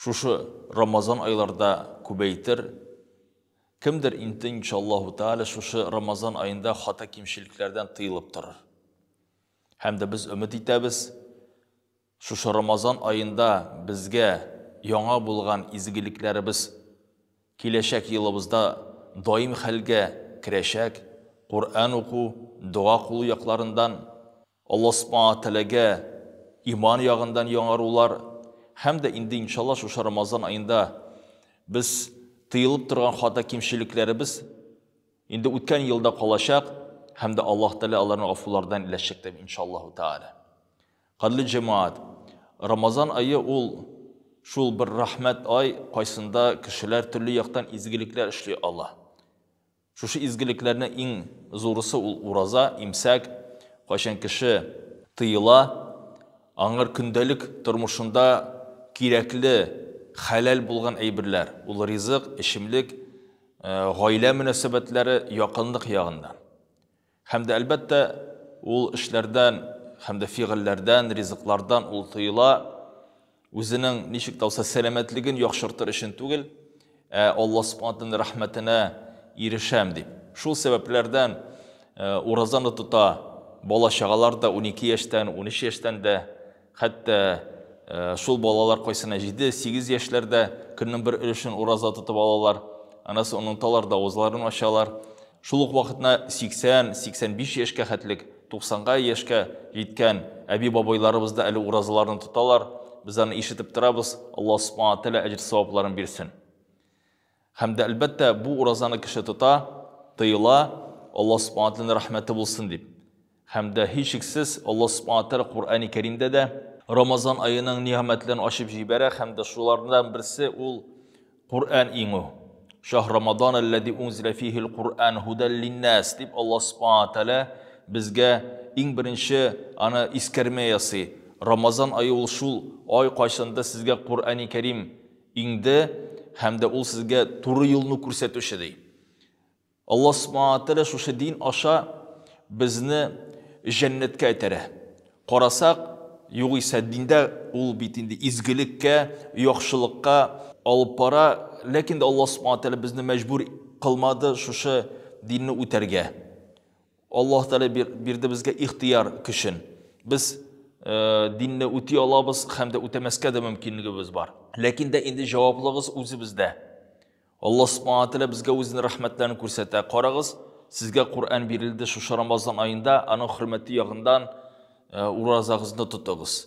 Шушы Рамазан айларда күбәйтер Кемдер инте иншаллаһу тәгалә шушы Рамазан аенда хата кимчелекләрдән тыелып торыр. Һәм дә без өмет итәбез, шушы Рамазан аенда безгә яңа булган изгелекләребез киләчәк елыбызда даим хәлгә керәчәк, Коръән уку, дога кылу якларындан Алла Субхана ва Тәгаләгә иман ягындан яңарулар һәм дә инде иншалла шушы Рамазан аенда без тыелып торган хата кимчелекләребез инде үткән елда калачак һәм дә Аллаһ Тәгалә аларны гафулардан иләчәк дип иншаллаһу тәгалә. Кадерле җәмәгать, Рамазан ае ул шул бер рәхмәт ай, кайсында кешеләр төрле яктан изгелекләр эшли ала. Шушы изгелекләрнең иң зурысы ул ураза, имсәк. Кайчан кеше тыела, аңар көндәлек тормышында кирәкле, хәләл булган әйберләр, ул ризык, эчемлек, гаилә мөнәсәбәтләре, якынлык ягыннан. Һәм дә, әлбәттә, ул эшләрдән һәм дә фигыльләрдән, ризыклардан ул тыела, үзенең ничек тә булса сәламәтлеген яхшыртыр өчен түгел, ә Алла Субханатының рәхмәтенә ирешәм дип. Шул сәбәпләрдән уразаны тота, бала чагалар да 12 яшьтән, 13 яшьтән дә Хәтта шул балалар кайсына җиде-сигез яшьләрдә көннең бер өлешен ураза тотып алалар, аннан соң оныталар да авызларын ачалар. Шул ук вакытна 80-85 яшькә хәтлек, 90-га яшькә җиткән әби-бабайларыбыз да әле уразаларны тоталар, без аны ишетеп торабыз, Алла Субхана Тәгалә әҗер-савапларын бирсен. Һәм дә, әлбәттә, бу уразаны кеше тота, тыела, Аллаһ Субхана Тәгаләнең рәхмәте булсын дип. Һәм дә, һичшиксез, Аллаһ Субхана Тәгалә Коръәни Кәримдә дә Рамазан аеның нигъмәтләрен ачып җибәрә һәм дә шулардан берсе ул Коръән иңү. Шаһ Рамадан аллази унзиля фихил Коръән һудәл линнәс дип Аллаһ Субхана Тәгалә безгә иң беренче аны искәрмә ясый. Рамазан ае ул шул ай, кайчанда сезгә Коръәни Кәрим Иңде, һәм дә ул сезгә туры юлны күрсәтүче, ди. Аллаһ Субхана ва Тәгалә шушы дин аша безне җәннәткә этәрә. Карасак, югыйсә диндә ул бит инде изгелеккә, яхшылыкка алып бара, ләкин дә Аллаһ Субхана ва Тәгалә безне мәҗбүр кылмады шушы динне үтәргә. Аллаһ Тәгалә бирде безгә ихтыяр көчен. Без динне үти алабыз һәм дә үтәмәскә дә мөмкинлегебез бар. Ләкин дә инде җаваплыгыз үзебездә. Аллаһ Субхану Тәгалә безгә үзенең рәхмәтләрен күрсәтә. Карагыз, сезгә Коръән бирелде шушы Рамазан аенда, аның хөрмәте ягыннан уразагызны тотыгыз.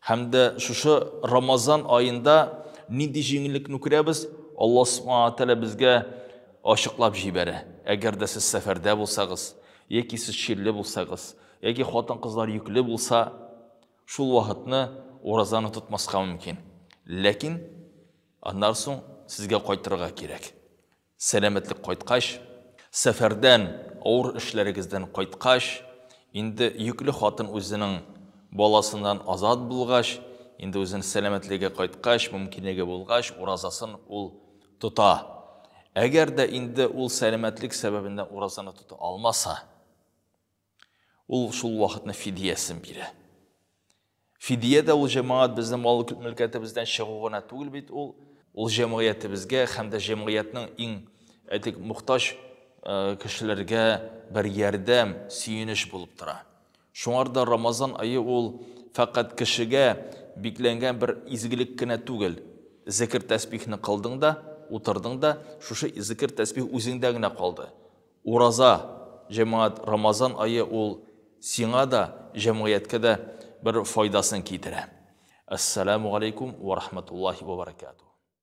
Һәм дә шушы Рамазан аенда нинди җиңеллекне күрәбез? Алла Субхана Тәгалә безгә ачыклап җибәрә. Әгәр дә сез сәфәрдә булсагыз, яки сез чирле булсагыз, яки хатын-кызлар йөкле булса, шул вакытны уразаны тотмаска мөмкин. Ләкин аннан соң сезгә кайтырга кирәк. Сәламәтлек кайткач, сәфәрдән, авыр эшләрегездән кайткач, инде йөкле хатын үзенең баласыннан азат булгач, инде үзенең сәламәтлеге кайткач, мөмкинлеге булгач, уразасын ул тота. Әгәр дә инде ул сәламәтлек сәбәбеннән уразаны тота алмаса, Ул шул вакытны фидиясен бирә. Фидия дә ул җәмәгать безнең мал мөлкәтебездән чыгу гына түгел бит ул. Ул җәмгыятебезгә һәм дә җәмгыятьнең иң әйтик мохтаҗ э, кешеләргә бер ярдәм, сөенеч булып тора. Шуңарда Рамазан айы ул фәкать кешегә бикләнгән бер изгелек кенә түгел. Зекер тәсбихне кылдың да, утырдың да, шушы зекер тәсбих үзеңдә генә калды. Ураза, җәмәгать, Рамазан ае ул сиңа да, җәмгыятькә дә бер файдасын китерә. Әссәламү галәйкүм вә рахмәтуллаһи вә бәрәкәтүһ.